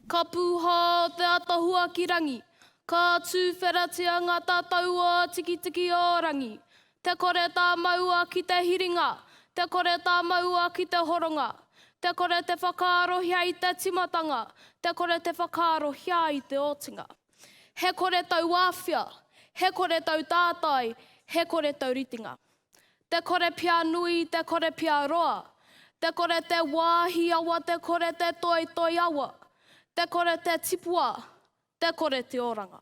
Ka pūhā te atahua ki rangi, ka tūwheratia ngā tatau o Tikitiki-o-rangi. Te kore tā maua ki te hiringa, te kore tā maua ki te horonga. Te kore te whakaarohia i te timatanga, te kore te whakaarohia i te otinga. He kore tauāwhia, he kore tautātai, he kore tauritenga. Te kore pia nui, te kore pia roa, te kore te wāhi awa, te kore te toitoi awa, te kore te tipua, te kore te oranga.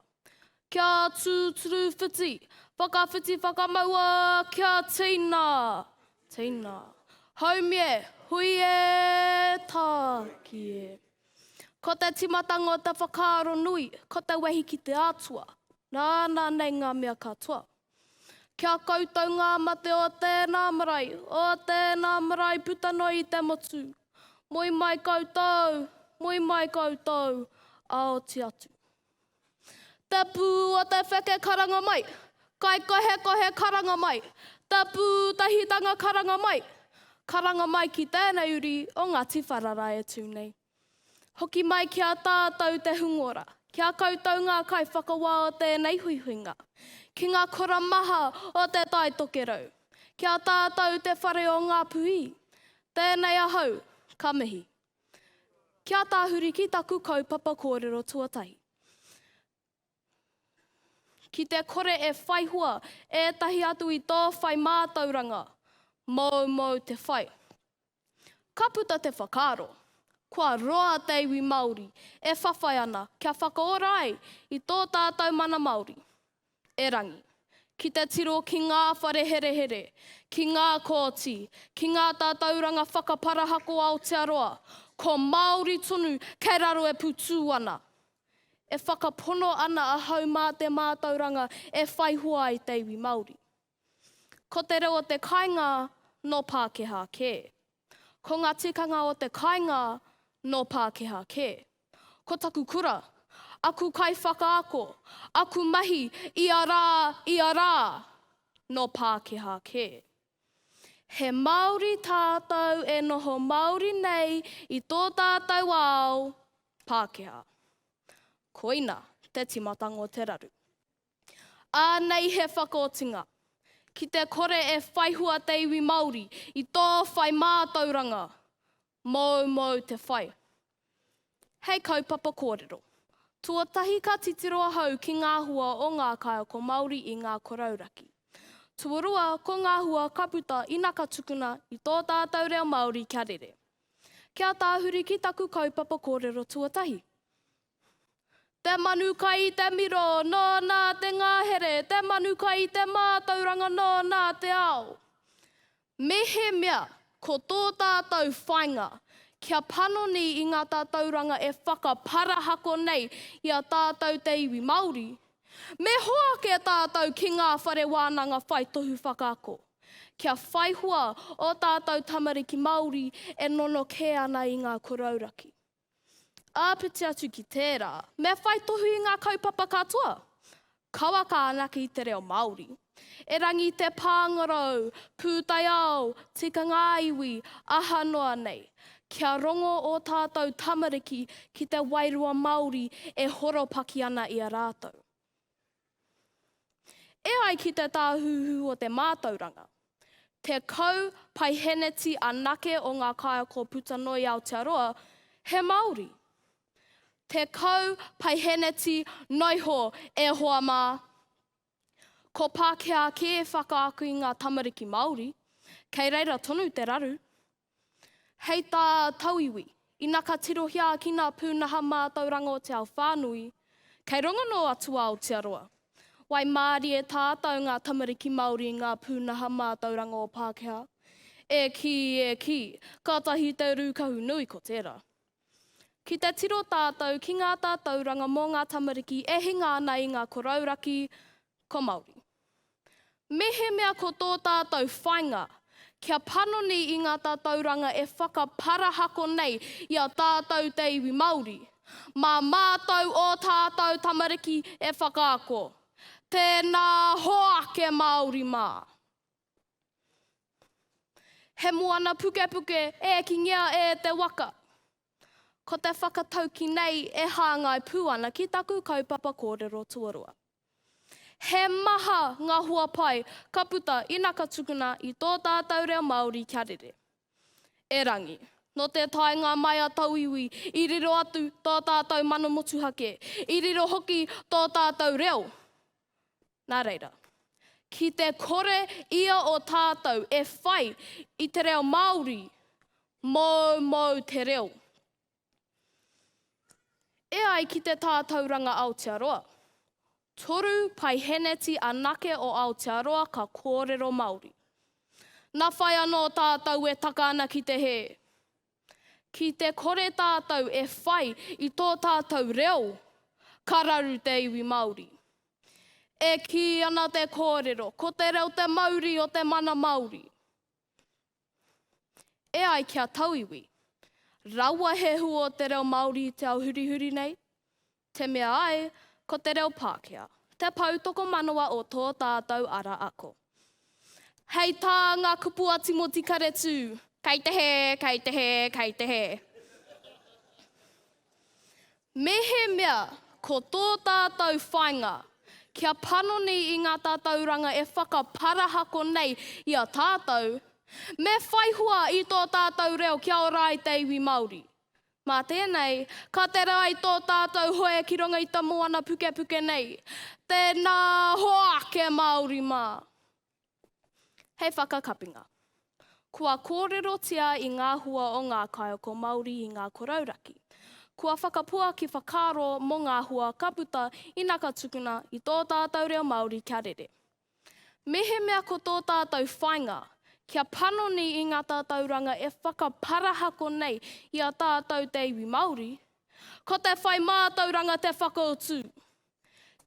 Kia tūturu whiti, whakawhiti whakamaua, kia tina, tina. Haumi e, hui e, tāki e. Ko te timatanga o te whakaaro nui, ko te wehi ki te Atua, nāna nei ngā mea katoa. Ki a koutou ngā mate o tēnā marae, o tēnā marae puta noa i te motu. Moe mai koutou, moe mai koutou, a oti atu. Te pū o te wheke karanga mai, kaikohekohe karanga mai, te pūtahitanga karanga mai, karanga mai ki tēnei uri o Ngāti Wharara e tū nei. Hoki mai ki a tātou te hungora, ki a koutou ngā kaiwhakawā o tēnei huihuinga, ki ngā kura maha o Te Tai Tokerau, ki a tātou te whare o Ngāpuhi, tēnei ahau, ka mihi. Kia tahuri ki taku kaupapa kōrero tuatahi. Ki te kore e whai hua ētahi atu i tō whai mātauranga, moumou te whai. Ka puta te whakaaro, kua roa te iwi Māori e whawhai ana kia whakaora ai i tō tātou mana Māori. Erangi, ki te tiro ki ngā whare herehere, ki ngā kōti, ki ngā tatauranga whakaparahako Aotearoa, ko Māori tonu kei raro e putū ana. E whakapono ana ahau mā te mātauranga e whai hoa ai te iwi Māori. Ko te reo o te kāinga nō Pākehā kē. Ko ngā tikanga o te kāinga nō Pākehā kē. Ko taku kura, aku kaiwhakaako, aku mahi ia rā, ia rā, nō Pākehā kē. He Māori tātou e noho māori nei i tō tātou ao, Pākehā. Koina te timatanga o te raru. Ānei he whakaotinga. Ki te kore e whaihua te iwi Māori i tō whai mātauranga, moumou te whai. Hei kaupapa kōrero. Tuatahi ka titiro ahau ki ngā hua o ngā kaiako Māori i ngā korauraki. Tuarua ko ngā hua ka puta ina ka tukuna i tō tātau reo Māori kia rere. Kia tāhuri ki taku kaupapa kōrero tuatahi. Te manu kai i te miro, nō nā te ngahere, te manu kai i te mātauranga, nō nā te ao. Mehemea ko tō tātou whainga kia panoni i ngā tātauranga e whakaparahako nei i a tātou te iwi Māori, me hoake tātou ki ngā whare wānanga whai tohu whakaako, kia whaihua ō tātou tamariki Māori e nono kē ana i ngā korouraki. Āpiti atu ki tērā, me whai tohu i ngā kaupapa katoa kawa ka anake i te reo Māori. Erangi i te pāngarau, pūtaiao, tikanga ā-iwi, aha noa nei. Kia rongo ō tātou tamariki ki te wairua Māori e horopaki ana i a rātou. E ai ki te Tāhuhu o te Mātauranga, 10 paiheneti anake o ngā kaiako puta noa i Aotearoa he Māori. 10 paiheneti noiho e hoa mā. Ko Pākehā kē e whakaako i ngā tamariki Māori, kei reira tonu te raru. Hei tā Tauiwi, ina ka tirohia ki ngā pūnaha mātauranga o te ao whānui, kei runga nō Atua Aotearoa. Waimārie tātau ngā tamariki Māori i ngā pūnaha mātauranga o Pākehā. E kī, e kī, kātahi te rūkahu nui ko tērā. Ki te tiro tātou ki ngā tātauranga mō ngā tamariki e hinga ana i ngā korauraki ko Māori. Mehemea ko tō tātou whainga kia panoni i ngā tātauranga e whakaparahako nei i a tātou te iwi Māori, mā mātou ō tātou tamariki e whakaako. Tēnā hoake Māori mā! He moana pukepuke e kingea e te waka. Ko te whakatauki nei e hāngai pū ana ki taku kaupapa kōrero tuarua. He maha ngā hoa pai ka puta ina ka tukuna i tō tātau reo Māori kia rere. Erangi, nō te taenga mai a Tauiwi i riro atu tō tātau mana motuhake, i riro hoki tō tātau reo. Nā reira, ki te kore ia o tātou e whai i te reo Māori, moumou te reo. E ai ki te Tātauranga Aotearoa, toru paiheneti anake o Aotearoa ka kōrero Māori. Nā whai anō tātou e taka ana ki te hē. Ki te kore tātou e whai i tō tātou reo, ka raru te iwi Māori. E kī ana te kōrero, ko te reo te mauri o te mana Māori. E ai ki a Tauiwi, raua he hua o te reo Māori i te ao hurihuri nei, Te mea ai, ko te reo Pākehā te pou tokomanawa o tō tātou ara ako. Hei tā ngā kupu a Timoti Karetū, kei te hē, kei te hē, kei te hē. Mehemea ko tō tātou whainga kia panoni i ngā tatauranga e whakaparahako nei i a tātou, me whaihua i tō tātou reo kia ora ai te iwi Māori. Mā tēnei, ka tere ai tō tātou hoe ki runga i te moana pukepuke nei. Tēnā hoa ake Māori mā! Hei whakakapinga. Kua kōrerotia i ngā hua o ngā kaiako Māori i ngā korauraki. Kua whakapuaki whakaaro mō ngā hua ka puta ina ka tukuna i tō tātou reo Māori kia rere. Mehemea ko tō tātou whainga, kia panoni i ngā tatauranga e whakaparahako nei i a tātou te iwi Māori, ko te whai mātauranga te whakautu.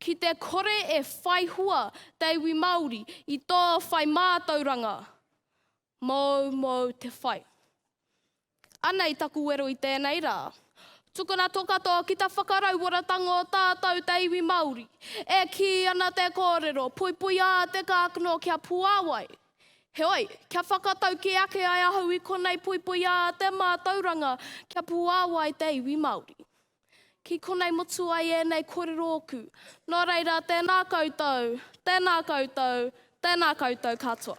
Ki te kore e whai hua te iwi Māori i tō whai mātauranga, Moumou te whai. Anei taku wero i tēnei rā. Tukuna to katoa ki ta whakarauoratanga o tātou te iwi Māori. E kī ana te kōrero, puipuia te kākano kia puāwai. Heoi, kia whakatauki ake ai ahau i konei puipuia te mātauranga kia puāwai te iwi Māori. Ki konei motu ai ēnei korero oku. Nō reira, tēnā koutou, tēnā koutou, tēnā koutou katoa.